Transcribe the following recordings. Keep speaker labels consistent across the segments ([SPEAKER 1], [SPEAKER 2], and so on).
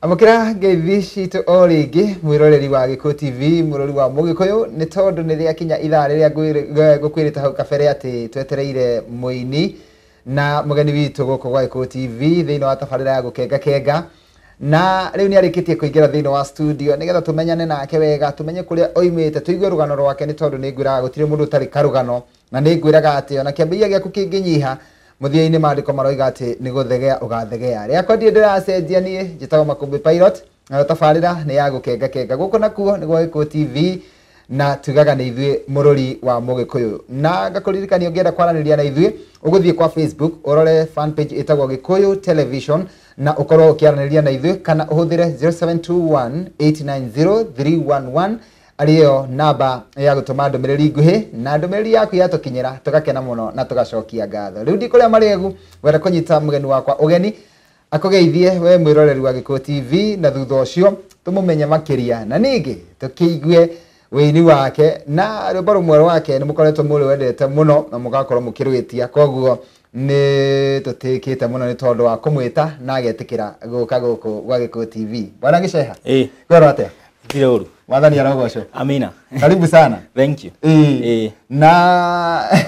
[SPEAKER 1] amũkĩra ngeithi citũ o rĩngĩ mwĩroreri wa gĩkũ tv mũrori wa mũgĩkũyũ nĩ tondũ nĩ rĩakinya ithaa rĩrĩa ngũkwĩrĩte hau kabere atĩ twetereire mũini na mũgeni witũ gũkũ gwa gĩkũ tv thĩinĩ wa tabarĩra ya gũkenga kenga na rĩu nĩ arĩkĩtie kũingĩra thĩinĩ wa studio nĩgetha tũmenyane nake wega tũmenye kũrĩa oimĩte tũigue rũgano rwake nĩ tondũ nĩ ngwĩraga gũtirĩ mũndũ ũtarĩ karũgano Na nĩ ngwĩraga atĩ o na kĩambĩrĩria gĩaku kĩngĩnyiha, mũthia-inĩ Maandĩko maroiga atĩ nĩ gũthegea ũgathegea. Rĩakwa ndirĩ ndĩracenjia niĩ, njĩtagwo Makũmbĩ Pilot, nayo tabarĩra nĩ ya gũkengakenga. Gũkũ nakuo nĩ gwa Gĩkũyũ TV, na tugaga nĩ ithuĩ mũrũri wa Mũgĩkũyũ. Na ngakũririkania ũngĩenda kwaranĩria na ithuĩ, ũgũthiĩ kwa Facebook, ũrore fan page ĩtagwo Gĩkũyũ Television, na ũkorwo ũkĩaranĩria na ithuĩ, kana ũhũthĩre 0721 890 311, arĩyo namba ya gũtũma ndũmĩrĩri nguhĩ na ndũmĩrĩri yaku yatũkinyĩra tũgakena mũno na tũgacokia ngatho rĩu ndikũrĩa marĩagu gwenda kũnyita mũgeni wakwa ũgeni akũgeithie we mwĩroreri wa gĩkũ tv na thutha ũcio tũmũmenye makĩria na ningĩ tũkĩigue wĩini wake na rwĩmbo rũmwe rwake nĩ mũkoretwo mũrĩwendete mũno na mũgakorwo mũkĩrwĩtia koguo Nĩ tũtĩkĩte mũno nĩ tondũ wa kũmwĩta na agetĩkĩra gũka gũkũ gwa Gĩkũyũ TV. Bwana Gĩceha, Eh, kwero atĩa? ndirĩ ũru. Mwathani
[SPEAKER 2] arogocwo.
[SPEAKER 1] Amina. Karibu
[SPEAKER 2] sana.
[SPEAKER 1] Thank you.
[SPEAKER 2] Ĩĩ. Eh, Na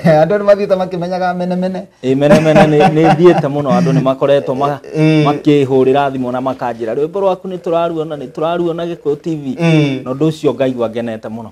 [SPEAKER 1] andũ nĩ mathiĩte makĩmenyaga mene mene. eh, mene mene nĩ- nĩ
[SPEAKER 2] thiĩte mũno andũ nĩ makoretwo ma- Eh. makĩhũrĩra thimũ na makanjĩra rwĩmbo rwaku nĩ tũraruona nĩ tũraruona Gĩkũyũ TV. Eh. Na ũndũ ũcio ngaigua ngenete mũno.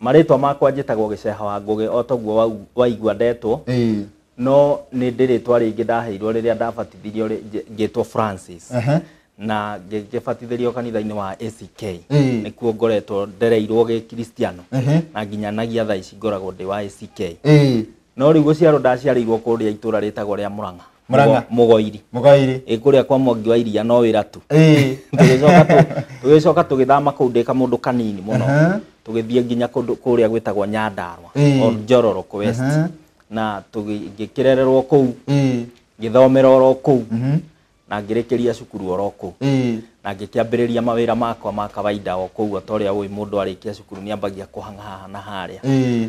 [SPEAKER 2] Marĩtwa makwa njĩtagwo Gĩceha wa Ngũgĩ o toguo wau- waigua ndetwo, Ĩĩ. no nĩ ndĩ rĩtwa rĩngĩ ndaheirwo rĩrĩa ndabatithirio rĩ- njĩ- ngĩtwo Francis Ehe. na ngĩgĩbatithĩrio kanitha-inĩ wa ACK Ĩĩ. nĩkuo ngoretwo ndereirwo gĩkristiano Ehe. na nginyanagia thaa ici ngoragwo ndĩ wa ACK Ĩĩ. no rĩu gũciarwo ndaciarĩirwo kũrĩa itũra rĩtagwo rĩa Mũrang'a Mũrang'a. Mũgo- mũgoiri Mũgairĩ. Ĩ, kũrĩa kwa mwangi wa iria no wĩra tu Ĩĩ. tũgĩcoka tũ- tũgĩcoka tũgĩthama kũu ndĩka mũndũ kanini mũno Aha. tũgĩthiĩ nginya kũndũ kũrĩa gwĩtagwo nyandarwa Ĩĩ. or njororoko west Aha. na tũgĩ- ngĩkĩrererwo kũu Ĩĩ. ngĩthomera oro kũu Mhm. na ngĩrĩkĩria cukuru oro kũu Ĩĩ. na ngĩkĩambĩrĩria mawĩra makwa ma kawaida o kũu o ta ũrĩa ũĩ mũndũ arĩkia cukuru nĩ ambagia kũhang'aha na harĩa Ĩĩ.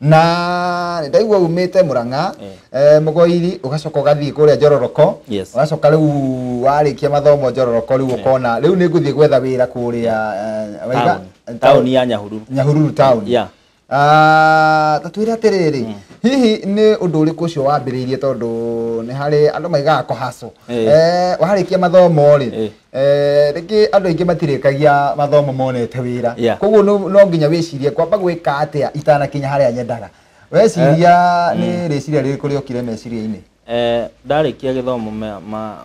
[SPEAKER 2] na
[SPEAKER 1] ndaigua umite muranga Eh. eh, mugoiri ugacoka ugathii kuria njororoko Yes. ugacoka riu warikia mathomo njororoko riu ukona riu ni nguthii gwetha wira kuria eh, waiga- Town. Town ya
[SPEAKER 2] Nyahururu. nyahururu town Yeah.
[SPEAKER 1] Ah, ta twire atiriri hihi ni undu uriku ucio wambiriirie tondu ni hari andu maigaga kohaco Eh. eh warikia mathomo ri Eh. Eh, rĩngĩ andũ aingĩ matirĩkagia mathomo monete wĩra Yeah. koguo no no nginya wĩcirie kwamba gwĩka atĩa itanakinya harĩa nyendaga weciria nĩ rĩciria rĩrĩkũ rĩokire meciria-inĩ Eh, ndarĩkia
[SPEAKER 2] gĩthomo ma- ma-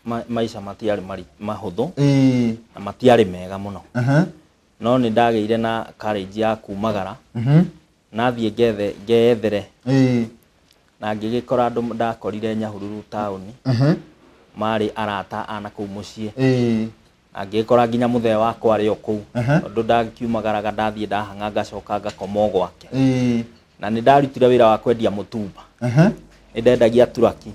[SPEAKER 2] ma- maica matiarĩ mari- mahũthũ Ĩĩ, na matiarĩ mega mũno aha, no nĩ ndagĩire na courage ya kumagara mhm, nathiĩ ngethe ngeyethere Ĩĩ. na ngĩgĩkora andũ ndakorire nyahururu taũni Ehe. marĩ arata ana kũu mũciĩ Ĩĩ. na ngĩgĩkora nginya mũthee wakwa arĩ o kũu Aha. tondũ ndakiumagaraga ndathiĩ ndahang'a ngacoka ngakoma o gwake Ĩĩ. na nĩ ndarutire wĩra wa kwendia mũtumba Ehe. ndendagia turaki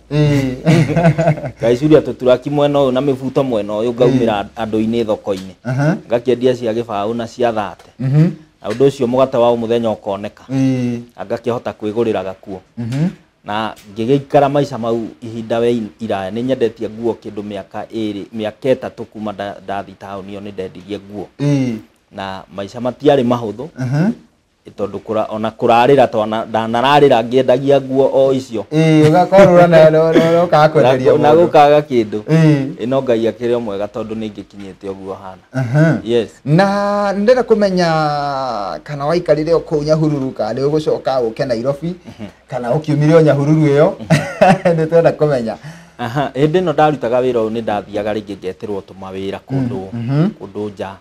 [SPEAKER 2] ngacuria tũturaki mwena ũyũ na mĩbuto mwena ũyũ ngaumĩra andũ-inĩ thoko-inĩ Aha. ngakĩendia cia gĩbaũ na cia thate Mhm. na ũndũ ũcio mũgate wa mũthenya ũkoneka Ĩĩ. na ngakĩhota kwĩgũrĩra gakuo Mhm. na ngĩgĩikara maica mau ihinda we iraya nĩ nyendetie nguo kĩndũ mĩaka ĩrĩ mĩaka ĩtatũ kuma nda- ndathi taũni ĩyo nĩ ndendirie nguo Ĩĩ. na maica matiarĩ mahũthũ Aha. tondå ona kå rarä ra twana ndanararä ra ngĩendagia nguo o icio Ĩĩ, ũgakorwo na- na-
[SPEAKER 1] na- na ũkaga kwenderia na mũndũ. gå kaga kä
[SPEAKER 2] ndå Ĩĩ. ä no ngai akä rä o mwega tondå nä ingä kinyä te å guo hana Aha. yes na ndenda
[SPEAKER 1] kumenya kana waikarire o kuu nyahururu kana nĩ ũgũcoka ũke nairobi kana ũkiumire o nyahururu ĩyo nĩ twenda kumenya Aha,
[SPEAKER 2] hĩndĩ ĩno ndarutaga wĩra ũyũ nĩ ndathiaga rĩngĩ ngeterwo tũma wĩra kũndũ kũndũ nja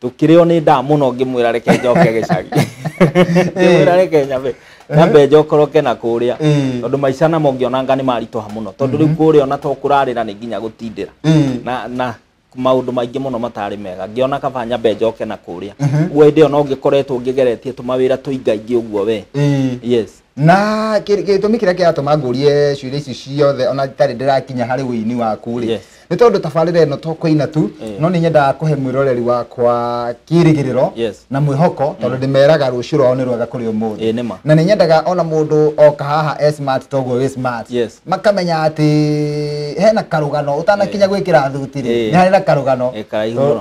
[SPEAKER 2] tukireo ni nda muno ngimwira reke njoke gicagi ngimwira reke nyambe nyambe njokoroke na kuria Mm. tondu maica namo ngionanga ni marituha muno tondu riu kuria ona to kurarira ni nginya gutindira Mm. na na maundu maingi muno matari mega ngiona kaba nyambe njoke na kuria guo hindi iyo no ngikoretwo ngigeretie tumawira tuingaingi uguo we Mm. yes na kĩ-
[SPEAKER 1] gĩtũmi kĩrĩa kĩratũma ngũrie ciũria ici ciothe ona itarĩ ndĩrakinya harĩ ũini waku rĩ Yes. nĩ tondũ tabarĩra ĩno to kũina tu Eh. no nĩ nyendaga kũhe mwĩroreri wakwa kĩrĩgĩrĩro Yes. na mwĩhoko tondũ ndĩmeraga rũciũ rwao nĩ rwega kũrĩ ũmũthĩ Eh, nĩ ma. na nĩ nyendaga ona mũndũ oka haha e smart toguo wĩ smart Yes. makamenya atĩ hena karũgano ũtanakinya eh. gwĩkĩra thuti rĩ eh. nĩ harĩ na karũgano eh,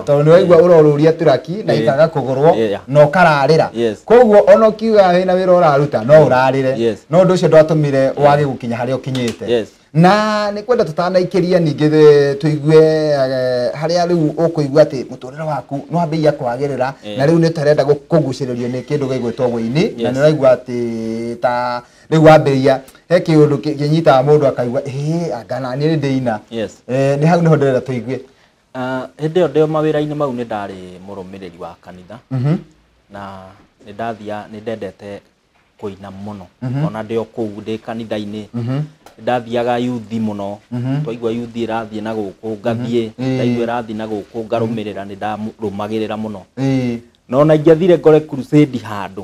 [SPEAKER 1] tondũ nĩ waigua ũrorũria turaki na ikaga kũgũrwo na ũkararĩra koguo ona ũkiuga wĩna wĩra ũraruta no ũrarĩre no ũndũ ũcio ndwatũmire wage gũkinya harĩa ũkinyĩte na nĩ kwenda tũtanaikĩria ningĩ tũigue harĩa rĩu ũkũigua atĩ mũtũrĩre waku nĩ wambĩia kwagĩrĩra na rĩu nĩ tarenda kũgucĩrĩrio nĩ kĩndũ gĩgwĩtwo wĩini na nĩ ũraigua atĩ ta rä u wambä he kä å ndå kä nyitaga må ndå akaigua "Ĩĩ, anga naniä nä ndä ina Yes. Eh, nä hau nä ho ndärenda tå igue Ah, hĩndĩ ĩyo
[SPEAKER 2] ndĩ mawĩra-inĩ mau nĩ ndarĩ mũrũmĩrĩri wa kanitha na nĩ ndathia nĩ ndendete kũina mũno ona ndĩ o kũu ndĩ kanitha-inĩ nĩ ndathiaga yuthi mũno twaigua yuthi ĩrathiĩ na gũkũ ngathiĩ Ĩĩ. ndaigua ĩrathiĩ na gũkũ ngarũmĩrĩra nĩ ndarũmagĩrĩra mũno Ĩĩ. no na ingĩathire ngore crusade handũ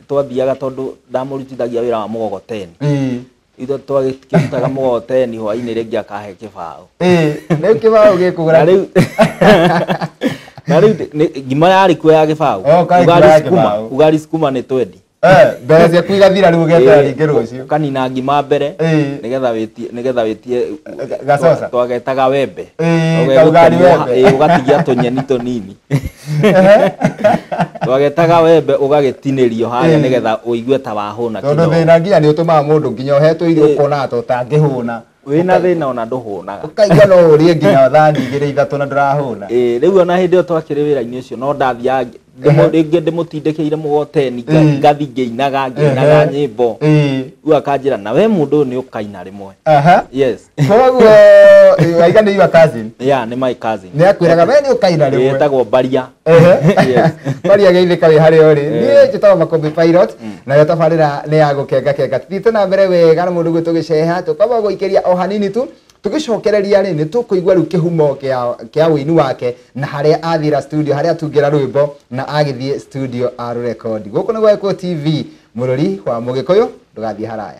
[SPEAKER 2] twathiaga tondå ndamårutithagia wä ra wa må gogoteni Ĩĩ. ithe twagäkĩrutaga må gogoteni hwainä rä ngä akahe kä baå Ĩĩ, rĩu kĩbaũ
[SPEAKER 1] gĩkũgũra na rä u
[SPEAKER 2] na rä u ngima yarä kuo ya gä baå Oh, kaĩ ngima ya gĩbaũ. ugari sukuma nä twendi Eh, mbeca ciaku
[SPEAKER 1] igathira rĩu ũgeta rĩngĩ rũciũ kanina ngima mbere
[SPEAKER 2] Ĩĩ. nĩgetha wĩtie nĩgetha wĩtie Gacoca.
[SPEAKER 1] twagetaga wembe
[SPEAKER 2] Ĩĩ, Ũgegũtemwo kaũgari ha- wembe. ĩĩ, ũgatigia tũnyeni tũnini twagetaga wembe ũgagĩtinĩrio harĩa Eh. nĩgetha ũigue ta wahũna tondå kĩdogo. thä na nginya nä å tå
[SPEAKER 1] maga må ndå nginya å hetwo irio Eh. ũkona ta å tangä hå na wĩna thĩna ona
[SPEAKER 2] ndũhũnaga ũkaigua no å rä
[SPEAKER 1] nginya thani igä rä ithatå na ndårahå na Ĩĩ, rĩu ona hĩndĩ ĩyo
[SPEAKER 2] twakĩrĩ wĩra-inĩ ũcio no ndathiaga ngĩ- ndĩmũ- rĩngĩ ndĩmũtindĩkĩire mũgoteni nga- Ĩĩ. ngathi ngĩinaga ngĩinaga Ehe. nyĩmbo rĩu akanjĩra na we mũndũ ũyũ nĩ ũkaina rĩmwe yes koguo
[SPEAKER 1] eh, waiga nĩ your cousin yeah nĩ my cousin
[SPEAKER 2] nĩ akwĩraga we nĩ ũkaina
[SPEAKER 1] rĩmwe yetagwo mbaria
[SPEAKER 2] Yes.
[SPEAKER 1] maria geithĩka wĩ harĩa ũrĩ niĩ njĩtagwo makũmbĩ pilot nayo tabarĩra nĩ ya gũkenga kenga thiĩte na mbere wega na mũndũ gwitũ gĩceha tũkamba gũikĩria o hanini tu tũgĩcokereria rĩ nĩ tũkũigua rĩu kĩhumo kĩa- kĩa wĩini wake na harĩa athira studio harĩa atungĩra rwĩmbo na agĩthiĩ studio arũrekondi gũkũ nĩ gwekwo tv mũrũri wa mũgĩkũyũ ndũgathiĩ haraya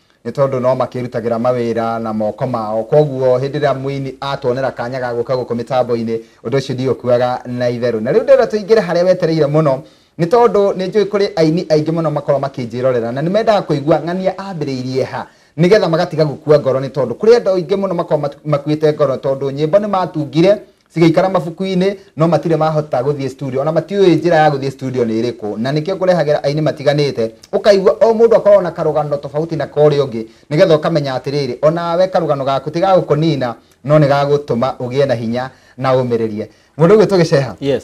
[SPEAKER 1] Nĩ tondũ no makĩĩrutagĩra mawĩra na moko mao. Kwoguo hĩndĩ ĩrĩa mũini atuonera kanya ga gũka gũkũ mĩtambo-inĩ, ũndũ ũcio ndiũkuaga na itherũ. Na rĩu ndĩrenda tũingĩre harĩa wetereire mũno, nĩ tondũ nĩ njũĩ kũrĩ aini aingĩ mũno makoragwo makĩnjĩrorera na nĩ mendaga kũigua ng'ania ambĩrĩirie ha, nĩgetha magatiga gũkua ngoro nĩ tondũ kũrĩ andũ aingĩ mũno makoragwo makuĩte ngoro tondũ nyĩmbo nĩ matungire cigaikara mabuku-inĩ no matirĩ mahota gũthiĩ studio ona matiũĩ njĩra ya gũthiĩ studio nĩ ĩrĩkũ na nĩkĩo kũrehagĩra aini matiganĩte ũkaigua o mũndũ akoragwo na karũgano tofauti na korĩa ũngĩ nĩgetha ũkamenya atĩrĩrĩ onawe karũgano gaku ti gagũkũnina no nĩ gagũtũma ũgĩe na hinya na ũmĩrĩrie mũndũ ũgwĩtwo gĩceha Yes.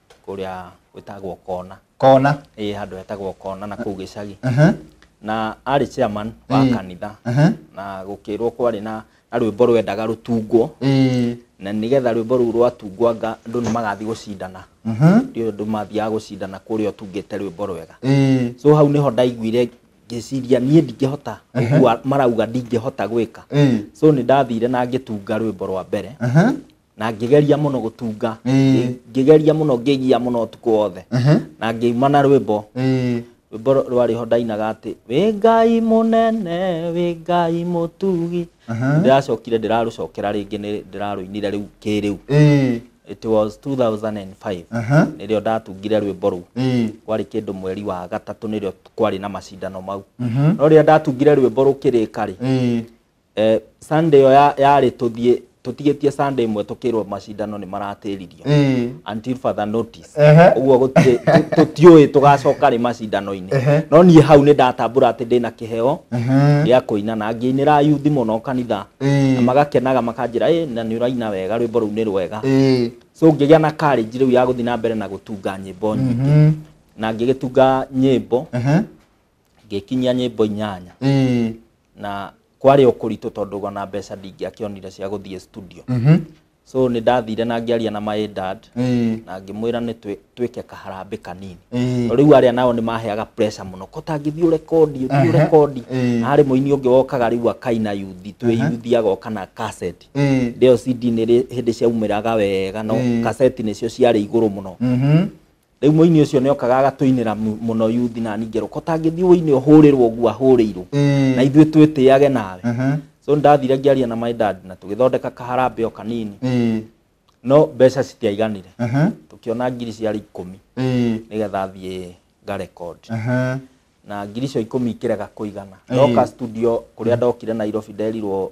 [SPEAKER 2] kũrĩa gwĩtagwo kona kona ĩĩ handũ hetagwo kona na kũu gĩcagi Aha, na arĩ chairman wa Ĩĩ. kanitha aha. na gũkĩrwo kwarĩ na na rwĩmbo rwendaga rũtungwo Ĩĩ, na nĩgetha rwĩmbo rũu rwatungwanga andũ nĩ magathiĩ gũcindana aha, ndio andũ mathiaga gũcindana kũrĩa ũtungĩte rwĩmbo rwega ĩĩ, so hau nĩho ndaiguire ngĩciria niĩ ndingĩhota ũguo marauga ndingĩhota gwĩka ĩĩ, so nĩ ndathire na ngĩtunga rwĩmbo rwa mbere aha, na ngĩgeria mũno gũtunga Ĩĩ. ngĩgeria mũno ngĩgia mũno ũtukũ wothe Ehe. na ngĩuma na rwĩmbo Ĩĩ. rwĩmbo rũ- rwarĩ ho ndainaga atĩ wĩ ngai mũnene wĩ ngai mũtugi Aha. ndĩracokire ndĩrarũcokera rĩngĩ nĩ ndĩrarũinire rĩu kĩrĩu Ĩĩ. it was 2005 Aha. nĩrĩo ndatungire rwĩmbo rũu Ĩĩ. kwarĩ kĩndũ mweri wa gatatũ nĩrĩo kwarĩ na macindano mau Mhm. no rĩrĩa ndatungire rwĩmbo rũkĩrĩka rĩ Ĩĩ. eh, sunday ĩyo ya- yarĩ tũthiĩ tũtigĩtie sunday ĩmwe tũkĩrwo macindano nĩ maratĩririo Ĩĩ. until further notice Ehe. ũguo gũtirĩ tũ- tũtiũĩ tũgacoka rĩ macindano-inĩ Ehe. no niĩ hau nĩ ndatambũra atĩ ndĩna kĩheo Ehe. gĩa kũina na ngĩinĩra yuthi mũno kanitha Ĩĩ. na magakenaga makanjĩra "Ĩ, na nĩ ũraina wega rwĩmbo rũu nĩ rwega Ĩĩ. so ngĩgĩa na courage rĩu ya gũthiĩ na mbere na gũtunga nyĩmbo nyingĩ Mhm. na ngĩgĩtunga nyĩmbo Ehe. ngĩkinyia nyĩmbo inyanya ĩĩ na kwarĩ o kũritũ tondũ ona mbeca ndingĩakĩonire cia gũthiĩ studio mhm so nĩ ndathire na ngĩaria na my dad ĩĩ na ngĩmwĩra nĩ twĩ- twĩke kaharambĩ kanini ĩĩ rĩu arĩa nao nĩ maheaga pressure mũno ko tangĩthiĩ ũrekondi ũthiĩ Aha, ũrekondi ĩĩ. na harĩ mũini ũngĩ wokaga rĩu akaina yuthi twĩ yuthi agoka na kaseti ĩĩ ndĩo cd nĩ rĩ- hĩndĩ ciaumĩraga wega no Ĩĩ. kaseti nĩcio ciarĩ igũrũ mũno mhm rĩu mũini ũcio nĩ okaga agatũinĩra mu- mũno yuthi nani ngerwo ko tangĩthiĩ ũinĩ ũhũrĩrwo ũguo ahũrĩirwo Ĩĩ. na ithuĩ twĩtĩage nawe Mhm. so ndathire ngĩaria na my dad na tũgĩthondeka kaharambĩ o kanini Ĩĩ. no mbeca citiaiganire Mhm. tũkĩona ngiri ciarĩ ikũmi Ĩĩ. nĩgetha thiĩ nga record Mhm. na ngiri icio ikũmi ikĩrega kũigana Ĩĩ. ndoka studio kũrĩa ndokire nairobi nderirwo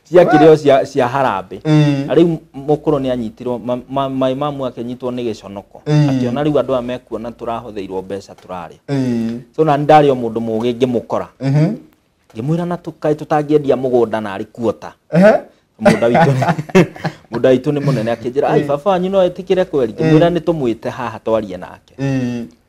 [SPEAKER 2] cia kĩrĩo cia cia harambĩ Mm. na rĩu mũkũrũ nĩ anyitirwo ma- ma- maĩ mamu akĩnyitwo nĩ gĩconoko Mm. akĩona rĩu andũ aya mekuona tũrahũthĩirwo mbeca tũrarĩa Eh. so na ndarĩ o mũndũ mũgĩ ngĩmũkora Mhm. ngĩmwĩra na tũkaĩ tũtangĩendia mũgũnda narĩ kuota Ehe. mũgũnda witũ nĩ- mũgũnda witũ nĩ mũnene akĩnjĩra ai baba wanyu no etĩkĩre kweri ngĩmwĩra nĩ tũmwĩte haha twarie nake Eh.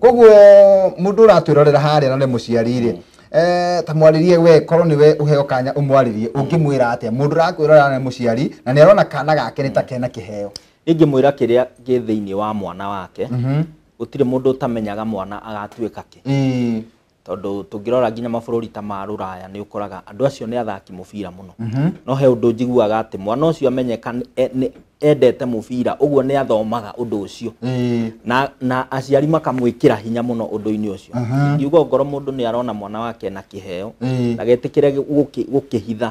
[SPEAKER 1] koguo mundu uratwirorera haria na ni muciari ri eh, ta mwaririe we korwo niwe uheo kanya umwaririe ungimwira atia mundu urakwirorera na ni muciari na ni arona kana gake ni ta kena kiheo ingĩmwĩra kĩrĩa
[SPEAKER 2] gĩ thĩinĩ wa mwana wake Mhm. gũtirĩ mũndũ ũtamenyaga mwana agatuĩka kĩ Ĩĩ. Tondũ tũngĩrora nginya mabũrũri ta ma rũraya nĩ ũkoraga andũ acio nĩ athaki mũbira mũno. Mhm. No he ũndũ njiguaga atĩ mwana ũcio amenyeka e, endete mũbira ũguo nĩ athomaga ũndũ ũcio na, na aciari makamwĩkĩra hinya mũno ũndũ-inĩ ũcio ngiuga ngoro mũndũ nĩ arona mwana wake na kĩheo na getĩkĩre gũkĩhitha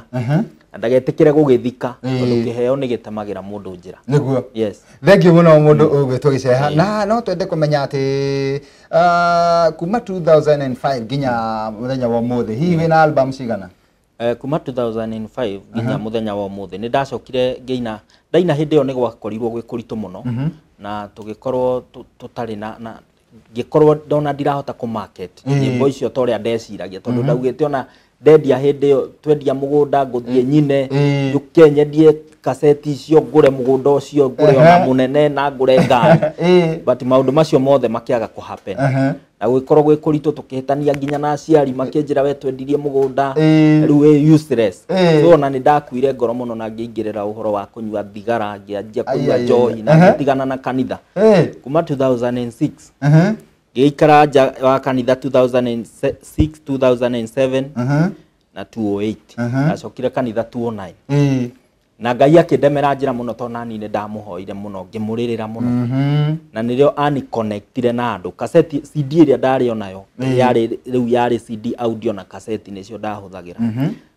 [SPEAKER 2] na ndagetĩkĩre gũgĩthika Ĩĩ. tondũ kĩheo nĩ gĩtemagĩra mũndũ njĩra nĩguo yes
[SPEAKER 1] thengiå må
[SPEAKER 2] no må ndå
[SPEAKER 1] å gwä two gä ceha Ĩĩ. na no twende kå menya atä kuma 2005 nginya må thenya wa må thä hihi wä na album cigana Eh, kuma 2005
[SPEAKER 2] nginya muthenya wa umuthi nä ndacokire ngäina ndaina hä ndä ä yo nä gwakorirwo gwä kå ritå må no na tå gä korwo tå tarä na na- ngĩkorwo ndona ndirahota kũ market Mm. nyĩmbo icio ta ũrĩa ndeciragia tondũ ndaugĩte ona ndendia hĩndĩ ĩyo twendia mũgũnda ngũthiĩ nyine Mm. njũke nyendie kaseti icio ngũre mũgũnda ũcio ngũre ona Ehe. mũnene na ngũre ngari Eh. but maũndũ macio mothe makĩaga kũ happen Aha. na gũgĩkorwo gwĩ kũritũ tũkĩhĩtania nginya na aciari makĩnjĩra we twendirie mũgũnda Eh. rĩu wĩ useless Eh. so ona nĩ ndakuire ngoro mũno na ngĩingĩrĩra ũhoro wa kũnyua thigara ngĩanjia Ai, ai, kũnyua ai. njohi na Aha. ngĩtigana na kanitha Eh, kuma 2006 aha, ngĩikara nja wa kanitha 2006 2007 aha, na 208 Aha. ndacokire kanitha 209 eh, na ngai akĩndemera njĩra mũno tondũ nani nĩ ndamũhoire mũno ngĩmũrĩrĩra mũno mhm, na nĩrĩo ani connectire na andũ kaseti cd ĩrĩa ndarĩ onayo Mm. yarĩ rĩu yarĩ cd audio na kaseti nĩcio ndahũthagĩra mhm,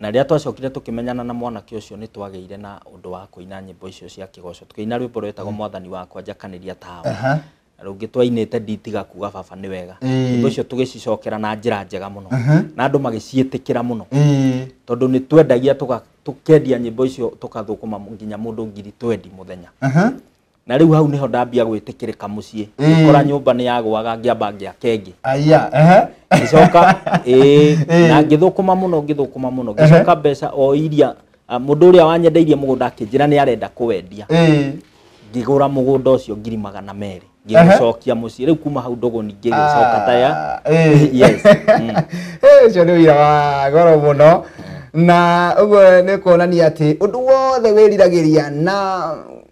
[SPEAKER 1] Na rĩrĩa twacokire tũkĩmenyana na mwanake ũcio, nĩ twagĩire na ũndũ wa kũina nyĩmbo icio cia kĩgoco. Tũkĩina rwĩmbo rwetagwo Mwathani wakwa njakanĩria tawe. Aha. Na rũngĩ twainĩte nditiga kuga baba nĩ wega. Ĩĩ. Nyĩmbo icio tũgĩcicokera na njĩra njega mũno. Na andũ magĩciĩtĩkĩra mũno. Ĩĩ. Tondũ nĩ twendagia tũga, tũkendia nyĩmbo icio tũgathũkũma nginya mũndũ ngiri twendi mũthenya. Aha. na rĩu hau nĩho ndambia gwĩtĩkĩrĩka mũciĩ ngĩkora nyũmba nĩ yagwaga ngĩamba ngĩaka ĩngĩ aya ehe ngĩcoka ĩĩ, Ĩĩ. na ngĩthũkũma mũno ngĩthũkũma mũno ngĩcoka mbeca o iria ah, mũndũ ũrĩa wanyendeirie mũgũnda akĩnjĩra nĩ arenda kũwendia ĩĩ ngĩgũra mũgũnda ũcio ngiri magana merĩ Ehe. ngĩgũcokia mũciĩ rĩu kuma hau ndũgũ ningĩ gĩcoka ta ya Ah, ĩĩ. yes mm. Eh, ũcio nĩ wĩra wa goro mũno na ũguo nĩ kuonania atĩ ũndũ wothe wĩriragĩria na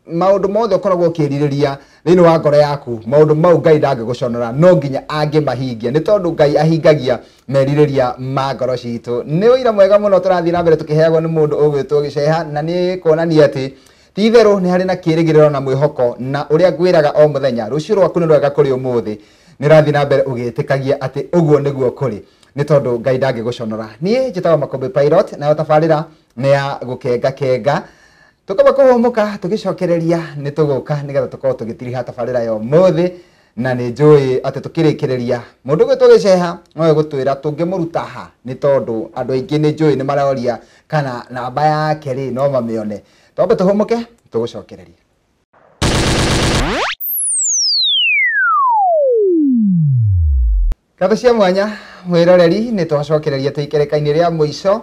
[SPEAKER 1] maũndũ mothe ũkoragwo ũkĩrirĩria thĩinĩ wa ngoro yaku maũndũ mau ngai ndangĩgũconora no nginya angĩmahingia nĩ tondũ ngai ahingagia merirĩria ma ngoro citũ nĩ ũira mwega mũno tũrathiĩ na mbere tũkĩheagwo nĩ mũndũ ũgwĩtwo gĩceha na nĩ kuonania atĩ ti itherũ nĩ harĩ na kĩrĩgĩrĩro na mwĩhoko na ũrĩa ngwĩraga o mũthenya rũciũ rwaku nĩ rwega kũrĩ ũmũthĩ nĩ ũrathiĩ na mbere ũgĩtĩkagia atĩ ũguo nĩguo kũrĩ nĩ tondũ ngai ndangĩgũconora niĩ njĩtagwo makũmbĩ pilot nayo tabarĩra nĩ ya gũkengakenga Tũkamba kũhũmũka tũgĩcokereria nĩ tũgũka nĩgetha tũkorwo tũgĩtiriha tabarĩra ya ũmũthĩ na nĩ njũĩ atĩ tũkĩrĩkĩrĩria mũndũ gwĩtwo gĩceha nowe gũtwĩra tũngĩmũruta ha nĩ tondũ andũ aingĩ nĩ njũĩ nĩ maroria kana namba yake rĩ no mamĩone. Twambe tũhũmũke tũgũcokererie. Ngatho cia mwanya mwĩroreri nĩ twacokereria twĩ ikereka-inĩ rĩa mũico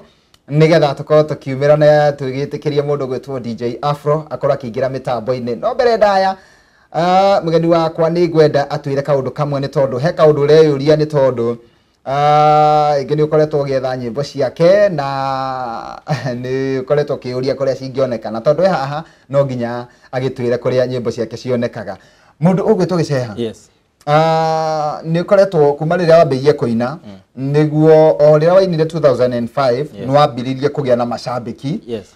[SPEAKER 1] nĩgetha tũkorwo tũkiumĩra na tũgĩtĩkĩria mũndũ gwĩtwo DJ Afro akorwo akĩingĩra mĩtambo-inĩ no mbere ndaya ah, mũgeni wakwa nĩ ngwenda atwĩre kaũndũ kamwe nĩ tondũ he kaũndũ ũreyũria nĩ tondũ Ah, ingĩ nĩ ũkoretwo ũgĩetha nyĩmbo ciake na nĩ ũkoretwo ũkĩyũria kũrĩa cingĩoneka na tondũ e haha no nginya agĩtwĩre kũrĩa nyĩmbo ciake cionekaga mũndũ ũgwĩtwo gĩceha yes Ah, nĩ ũkoretwo kuma rĩrĩa wambĩirie kũina nĩguo o rĩrĩa wainire 2005 Yes. nĩ wambĩrĩirie kũgĩa na macambĩki Yes.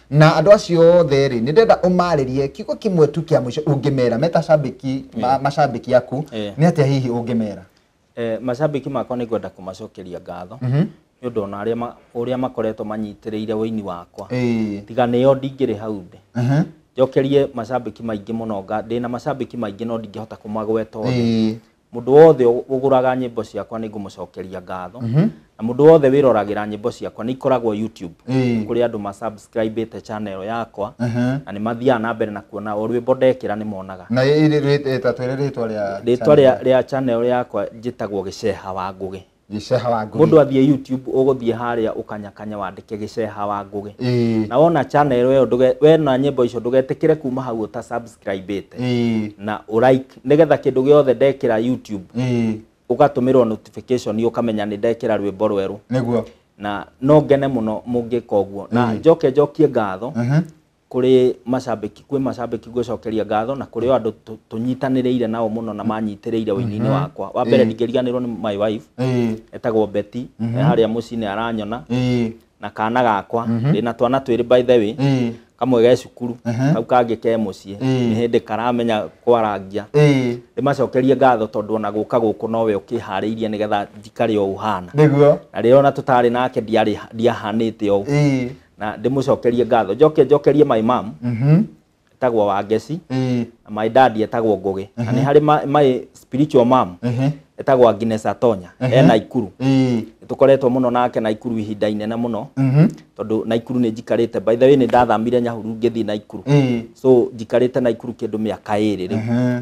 [SPEAKER 1] na andå acio othe rä nä ndenda å marä rie kiugo kä mwe tu kä a må ico å ngä mera meta cambäki ma- macambäki aku Eh. nä atä a hihi å ngä mera Eh, macambĩki
[SPEAKER 2] makwa nĩ ngwenda kũmacokeria ngatho nĩ ũndũ ona arĩa ma- ũrĩa makoretwo manyitĩrĩire ũini wakwa Ĩĩ. tiga nĩo ndingĩrĩ hau ndĩ Mhm. njokerie macambĩki maingĩ mũno nga- ndĩ na macambĩki maingĩ no ndingĩhota kũmagweta othe Ĩĩ. Mũndũ wothe ũgũraga nyĩmbo ciakwa nĩ ngũmũcokeria ngatho. Mhm. Na mũndũ wothe wĩroragĩra nyĩmbo ciakwa nĩ ikoragwo YouTube. Nĩ kũrĩ andũ ma subscribe te channel yakwa na nĩ mathiaga na mbere na kuona o rwĩmbo ndekĩra nĩ monaga. Na ĩĩ ta
[SPEAKER 1] twĩre rĩtwa rĩa channel. Rĩtwa
[SPEAKER 2] rĩa channel yakwa njĩtagwo Gĩceha wa Ngũgĩ. gĩceha wa ngũgĩ mũndũ
[SPEAKER 1] athiĩ youtube
[SPEAKER 2] ũgũthiĩ harĩa ũkanyakanye wandĩke gĩceha wa ngũgĩ Ĩĩ, na wona channel ĩyo ndũge- wena nyĩmbo icio ndũgetĩkĩre kuma hau ũta subscribe ĩte ĩĩ, na ũrike nĩgetha kĩndũ gĩothe ndekĩra youtube ĩĩ, ũgatũmĩrwo notification ũkamenya nĩ ndekĩra rwĩmbo rwerũ nĩguo na
[SPEAKER 1] no
[SPEAKER 2] ngene mũno mũngĩka ũguo na njoke njokie ngatho kũrĩ macambĩki kwĩ macambĩki ngwĩcokeria ngatho na kũrĩ o andũ tũ- tũnyitanĩrĩire nao mũno na manyitĩrĩire ũini-inĩ wakwa wa mbere ndingĩriganĩrwo nĩ my wife ĩĩ etagwo beti e harĩa mũciĩ-inĩ aranyona ĩĩ na kana gakwa ndĩ na twana twĩrĩ by the way ĩĩ kamwe ge cukuru Ehe. kau kangĩ ke mũciĩ Ĩĩ. nĩ hĩndĩ karamenya kwarangia ĩĩ ndĩmacokerie ngatho tondũ ona gũka gũkũ nowe ũkĩharĩirie nĩgetha njikare o ũhana nĩguo na rĩrĩa ona
[SPEAKER 1] tũtarĩ nake
[SPEAKER 2] ndiarĩ- ndiahanĩte o ũguo ĩĩ na ndĩmũcokerie ngatho njoke njokerie my mom Mhm. etagwo wangeci Eh, na my dad etagwo ngũgĩ na nĩ harĩ ma- my spiritual mom ehe, etagwo Agnes Atonya Ehe. e Naikuru eh, tũkoretwo mũno nake Naikuru ihinda inene mũno mhm, tondũ Naikuru nĩ njikarĩte by the way nĩ ndathamire Nyahururu ngĩthiĩ Naikuru eh, so njikarĩte Naikuru kĩndũ mĩaka ĩrĩ rĩu ehe,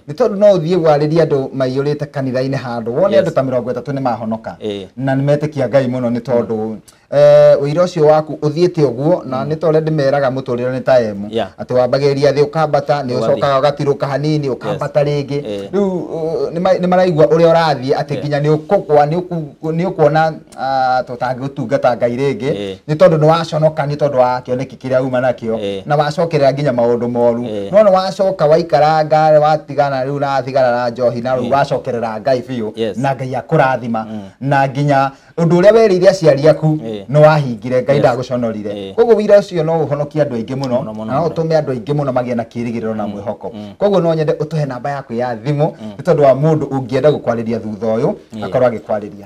[SPEAKER 1] nĩ tondũ no ũthiĩ warĩrie andũ maiyũrĩte kanitha-inĩ handũ wone Yes. andũ ta mĩrongo ĩtatũ nĩ mahonoka Eh. na nĩ metĩkia ngai mũno nĩ tondũ eh, ũira ũcio waku ũthiĩte ũguo na nĩ ta ũrĩa ndĩmeraga mũtũrĩre nĩ ta emu Yeah. atĩ wambagĩrĩria thĩ ũkambata nĩ Ũgathiĩ. ũcokaga ũgatirũka hanini ũkambata rĩngĩ Eh. rĩu uh, nĩ ma- nĩ maraigua ũrĩa ũrathiĩ atĩ Yeah. nginya nĩ ũkũgwa nĩ ũku- nĩ ũkuona ah, tũtangĩtuga ta ngai rĩngĩ Eh. nĩ tondũ nĩ waconoka nĩ tondũ wa kĩoneki kĩrĩa uma nakĩo Eh. na wacokerera nginya maũndũ moru Eh. no nĩ wacoka waikaranga watigana rĩu na thigara na njohi na rĩu wacokerera ngai biũ Yes. na ngai akũrathima na nginya ũndũ ũrĩa werĩire aciari aku Eh. nĩ wahingire ngai Yes. ndagũconorire Eh. koguo wira ũcio no ũhonokie andũ aingĩ mũno Mũno, mũno, na no mũno. ũtũme andũ aingĩ mũno magĩe na kĩrĩgĩrĩro na mwĩhoko koguo no nyende ũtũhe namba yaku ya thimũ nĩ tondũ wa mũndũ ũngĩenda gũkwarĩria thutha ũyũ akorwo agĩkwarĩria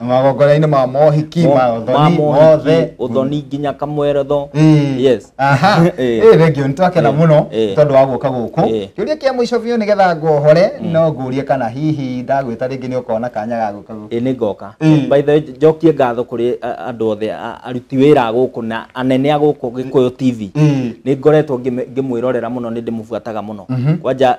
[SPEAKER 2] magongona-inĩ ma
[SPEAKER 1] mohiki Mo- ma ũthoni mothe uthoni nginya
[SPEAKER 2] kamweretho Mm. yes aha Eh. ĩ thengio
[SPEAKER 1] nĩ twakena Eh. mũno Eh. tondũ wa gũka gũkũ Eh. kĩũria kĩa mũico biũ nĩgetha ngohore no ngũrie kana hihi ndagwĩta rĩngĩ nĩ ũkona kanya ga gũka gũkũ ä nä ngoka Mm. by
[SPEAKER 2] the way njokie ngatho kå rä andå othe a- aruti wä ra gå kå na anene a gå kå gä kå yå tv Mm. nä ngoretwo ngä mwä rorera må no nä ndä må buataga må no Mhm. kwanja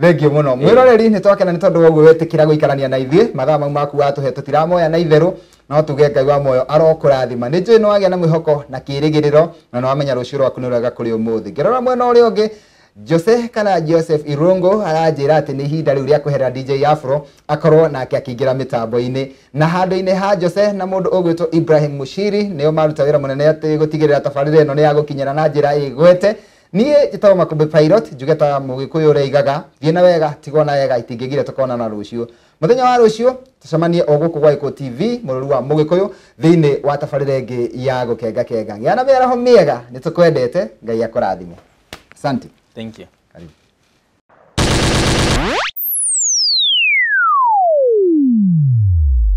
[SPEAKER 1] Thengio mũno
[SPEAKER 2] mwĩroreri
[SPEAKER 1] nĩ twakena nĩ tondũ wa ũguo wetĩkĩra gũikarania na ithuĩ mathaa mau maku watũhe tũtiramoya na itherũ no tuge ngai wa moyo arokũrathima nĩ njũĩ nĩ wagĩa na mwĩhoko na kĩrĩgĩrĩro na nĩ wamenya rũciũ rwaku nĩ rwega kũrĩ ũmũthĩ ngĩrora mwena ũrĩa ũngĩ Jose kana Joseph Irungu aranjĩra atĩ nĩ ihinda rĩu rĩa kweherera DJ Afro akorwo nake akĩingĩra mĩtambo-inĩ na handũ-inĩ ha Jose na mũndũ ũgwĩtwo Ibrahim Mushiri nĩo maruta wĩra mũnene atĩ gũtigĩrĩra tabarĩra ĩno nĩ ya gũkinyĩra na njĩra ĩgwete Niĩ njĩtagwo Makũmbĩ Pilot, njuge ta mũgĩkũyũ ũrĩa aigaga, thiĩ na wega, tiga ona wega, itingĩgire tũkonana rũciũ. Mũthenya wa rũciũ, tũcemanie o gũkũ gwa Gĩkũ TV, mũrũri wa mũgĩkũyũ, thĩinĩ wa tabarĩra ĩngĩ ya gũkenga kenga. Gĩa na mĩaraho mĩega, nĩ tũkwendete, Ngai akũrathime. Asante. Thank you. Karibu.